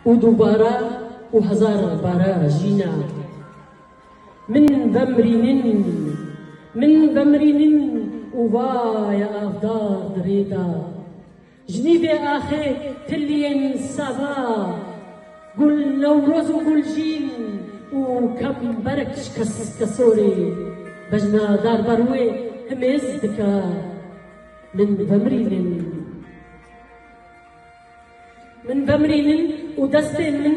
û dubara û hezar bara jîna Min vemrînin, min vemrînin û vaye avdar di rê da Jinî bê axê tiliyên sava Gul Newroz û Guljîn û Kamberek ji kesorê Bejna dar bar wê himêz dika Min vemrînin. Min vemrînin û destên min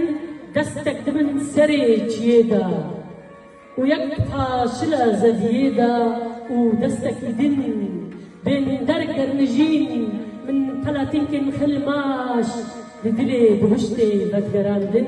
destek dibin serê çiyê de û yek bi paşile zeviyê de û destekî din bên derger mijîn min peletînkên xil maş li dilê bihuştê vegerandin.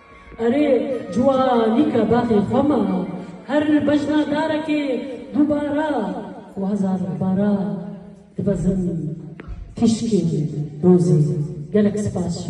Erê cuwa nîka baxê xwe ma. Her bejna darekê dubara xwe hezar xebara divezin tîşkê dozê. Gelek spas ji.